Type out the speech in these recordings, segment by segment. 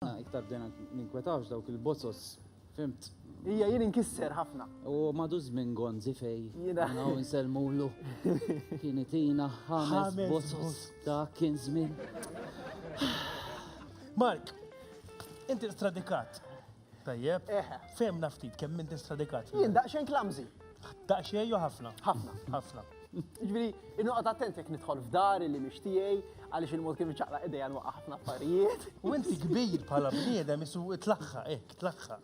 Aħna iktar bdejna ninkwetawx dawk il-bozzos, fimt? Ija jien inkisser ħafna. U madu żmien gonzi fej. Jiena. Naw nselmulu. Kien itina ħames bozzos ta' kien żmien. Mark, inti stradikat. Tajjeb. Eħe. Fehmna ftit kemm inti stradikat. Jien daqsxejn klamżi. Daqsxejn jew ħafna? Ħafna. Ħafna. Ġviri, innuqat attent jek nidħol f'dar li miex tiegħi għaliex il-mod kif iċaqla idejja nwaqqa ħafna affarijiet. U inti kbir bħala bniedem isu tlaħħa, ek, tlaħħa.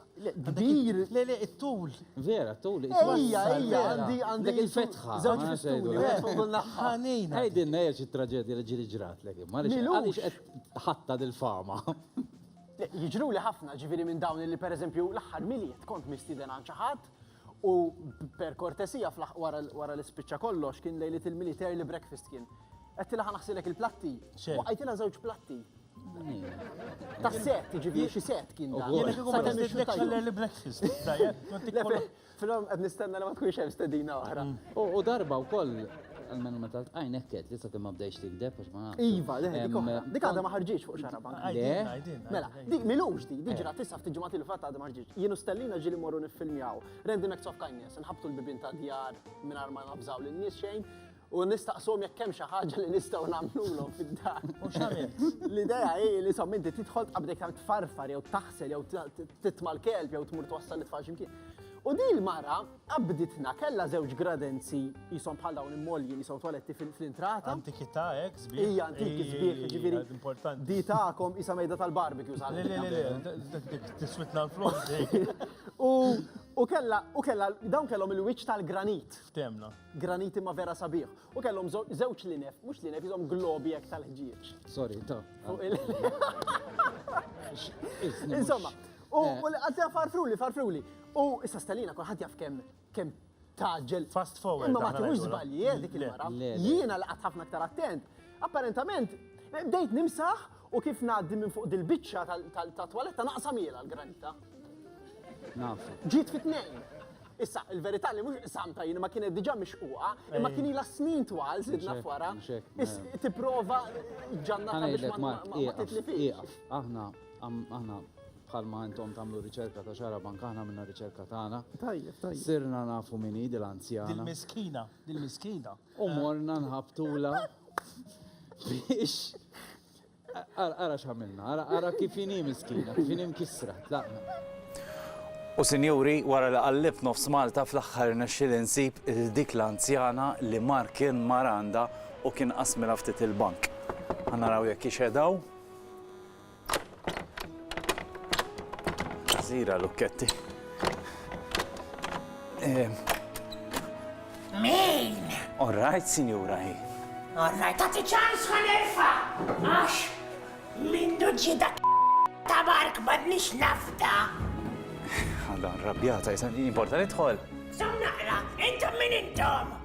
Kbir. Le, le, it-tul. Vera, t-tul. Ija, ija, għandi għandi il-fetħa. Zawġ festuni, ħanin. Għajdin nejġ il-traġedja li ġiri ġrat, le, għaliex qed ħatta dil-fama. Jiġru li ħafna ġiviri minn dawn li per eżempju l-aħħar miliet kont mistiden għal ċaħat U per kortesija fl-aħħ wara li spiċċa kollox kien lejliet il-miliet early breakfast kien. Għettilha ħa naħsilek il-platti. U għajtilha żewġ platti. Ta' set, ġifieri xi set kien dan. Jien kieku ma nixtieq l-early breakfast. Filhom qed nistenna li ma tkunx hemm stedina oħra. U darba wkoll Almenu meta l-tqajn ekket li sakemm ma bdejx tikdeb għax ma nafx. Iva, le, dik oħra. Dik għadha ma ħarġitx fuq xara bank. Mela, dik milux di, di ġrat issa ftit ġimgħat il fatt għadha ma ħarġitx. Jienu stellina ġieli morru niffilmjaw. Rendi Max of Kindness, nħabtu l-bibin ta' djar mingħajr ma nabżaw lin nies xejn u nistaqsom jekk hemm xi ħaġa li nistgħu nagħmlulhom fid-dar. U x'għamilt? L-idea hi li som inti tidħol qabdek tagħmel tfarfar jew taħsel jew titma' l-kelb jew tmur twassal it-tfal x'imkien. U din il-mara Qabditna, kellha żewġ gradenzi qishom bħal dawn immolji li sew twaletti fl-intrata. Antikità hekk sbieħ. Hija antiki sbieħ, ġifieri. Importanti. Di tagħkom isa mejda tal-barbecue sal. Tiswitna l-flok. U kella, u kella, dawn kellhom il-wiċċ tal-granit. Ftemna. Granit imma vera sabiħ. U kellhom żewġ linef, mhux linef, jizom globi hekk tal-ħġieġ. Sorry, ta. Insomma, u għadja farfruli, farfruli. U issa Stalina kulħadd jaf kemm kemm tgħaġġel. Fast forward. Imma ma tieħux żbalji jien dik il-mara. Jiena li qatt ħafna aktar attent, apparentament bdejt nimsaħ u kif ngħaddi minn fuq dil-biċċa tat-twaletta naqsamielha l-granita. Naf. Ġiet fi tnejn. Issa, il-verità li mhux samta jien ma kienet diġà mixquqa, imma kien ilha snin twal sidna f'wara. Tipprova ġannata biex ma titlifix. Aħna aħna bħalma intom tagħmlu riċerka ta' xara bank aħna minna riċerka tagħna. Tajjeb, tajjeb. Sirna nafu min hi dil-anzjana. Dil-miskina, dil-miskina. U morna nħabtula biex. Ara x'għamilna, ara kif inhi miskina, kif inhi mkissra, tlaqna. U sinjuri, wara li qallib nofs Malta fl-aħħar nexxil insib il dik l-anzjana li mar kien maranda u kien qasmilha ftit il-bank. Ħanaraw jekk ixedaw. Zira lukketti. Min? All right, signora. All right, tati ċans ma nerfa. Għax, mindu ġida ta' bark ma nix nafda. Għadda, rabjata, jisan, importa nidħol. Sam naqra, intom min intom?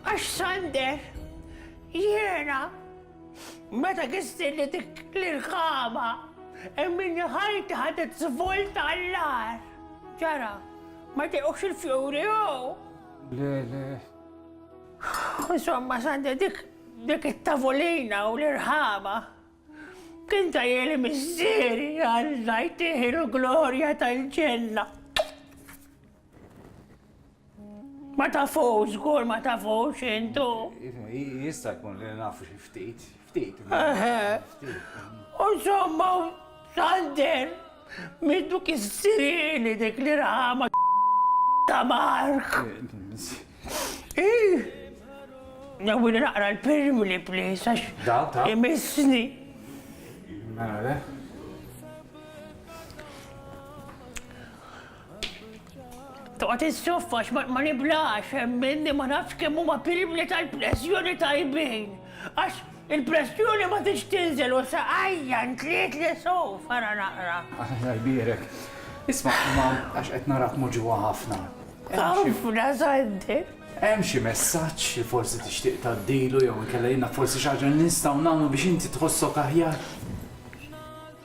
Għax Sander, jiena, meta kisni li dik l-irkama, emminni ħajti ħadet żvolta għall-agħar. Ġara, ma jtiqux il-fjuri jew? Le, le. Insomma, Sander, dik dik it-tavolina u l-irħama. Kien ta' jeli missieri għal najtiħi l-glorja tal-ġenna. Ma tafux, żgur ma tafux intu. Jista' jkun li nafu xi ftit, ftit. U somma xalder middu kissirili dik li rama ta' Mark. Nawili naqra l-pirm li plis għax imissni. Mela Toqgħod issoffa għax ma niblax hemm minni ma nafx kemm huma pilbli tal-pressjoni tajbin. Għax il-pressjoni ma tix tinżel u saqajja ntliet li sow fara naqra. Alla jbierek. Isma' imma għax qed narak moġuha ħafna. Ħafna żgħandi. Hemm xi messaġġ li forsi tixtieq tgħaddilu jew inkella jiena forsi xi ħaġa li nistgħu nagħmlu biex inti tħossok aħjar?